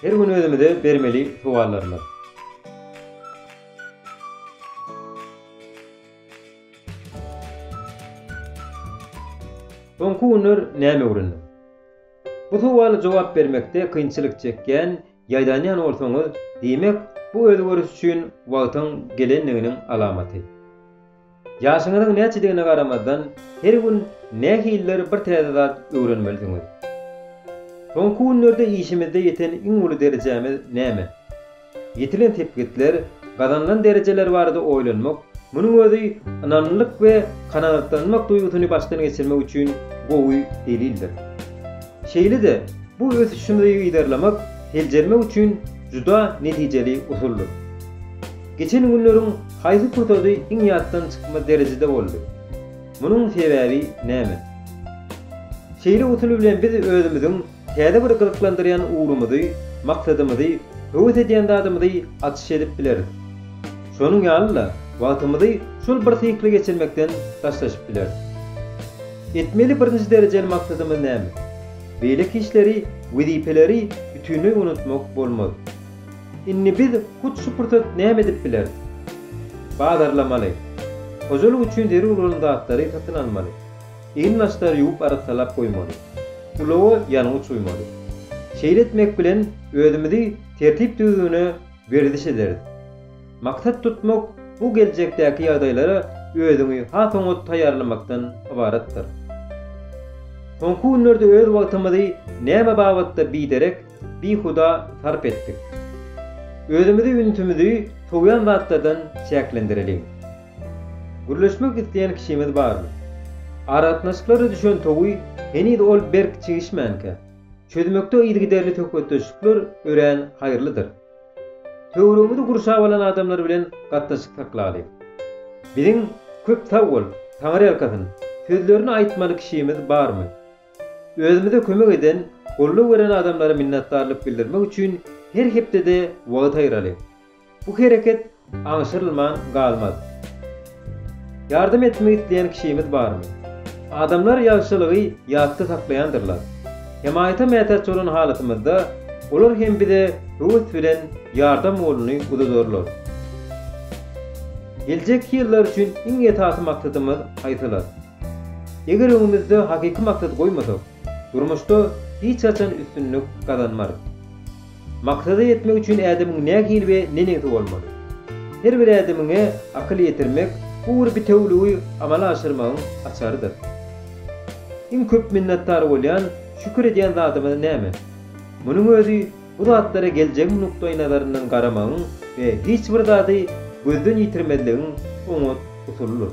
Her gün özümize bermeli sowallarymyz. Soňky günler näme öwrendim? Bu sowala jogap bermekde kynçylyk çekýän, ýaýdanýan bolsaňyz, diýmek, bu özgeriş üçin wagtyň gelendiginiň alamaty. Ýaşyňyzyň näçedigine garamazdan, her gün nähilidir bir täze zat öwrenmelisiňiz. Soňky günlerde işimizde ýeten iň uly derejämiz näme? Ýetilen sepgitler, gazanylan derejeler barada oýlanmak, munuň özi ynamlylyk we kanagatlanmak duýgusyny başdan geçirmek üçin gowy delildir. Şeýle-de, bu ösüşimizi yzarlamak, seljermek üçin juda netijeli usuldyr. Geçen günleriň haýsy pursady iň ýatdan çykmaz derejede boldy? Munuň sebäbi näme? Şeýle usul bilen biz özümiziň täze bir gyzyklandyrýan ugrumyzy, maksadymyzy, höwes edýän zadymyzy açyş edip bileris. Şonuň ýaly-da, wagtymyzy şol bir sykly geçirmekden daşlaşyp bileris. Etmeli birinji derejeli maksadymyz näme? Beýleki işleri, wezipeleri bütinleý unutmak bolmaz. Indi biz hut şu pursat näme edip bileris? Bazarlamaly. Hojalyk üçin zerur bolan zatlary satyn almaly. Egin-gaçlary ýuwup arassalap goýmaly. Ulaga ýangyç guýmaly. Şeýle etmek bilen özümizi tertip-düzgüne werziş ederis. Maksat tutmak bu geljekdäki ýagdaýlara özüňi has oňat taýýarlamakdan ybaratdyr. Soňky günlerde öz wagtymyzy näme babatda biderek bihuda sarp etdik. Özümizi ünsümizi sowýan zatlardan çäklendireliň. Gürleşmek isleýän kişimiz barmy? Aragatnaşyklara düşen towy heniz ol berk çigişmänkä, çözmekde yzygiderli söhbetdeşlikler örän haýyrlydyr. Töweregimizi gurşap alan adamlar bilen gatnaşyk saklaly. Biziň Köp sag bol, Taňyrýalkasyn! sözlerini aýtmaly kişimiz barmy? Özümize kömek eden, goldaw beren adamlara minnetdarlyk bildirmek üçin her hepdede wagt aýyralyň. Bu hereket aňşyrylman galmaz. Ýardam etmek isleýän kişimiz barmy? Adamlar ýagşylygy ýatda saklaýandyrlar. Hemaýata mätäç bolan halatymyzda, olar hem bize höwes bilen ýardam goluny uzadarlar. Geljekki ýyllar üçin iň esasy maksadymyz haýsylar? Eger öňümizde hakyky maksat goýmasak, durmuşda hiç haçan üstünlik gazanmarys. Maksada ýetmek üçin ädemiň nähili we neneňsi bolmaly? Her bir ädemiňe akyl ýetirmek bu bir bitewüligi amala aşyrmagyň açarydyr. Iň köp minnetdar bolýan, şükür edýän zadymyz näme? Munuň özi Bu zatlara geljegiň nukdaýnazaryndan garamagyň we hiç bir zady gözden ýitirmezligiň oňat usulydyr.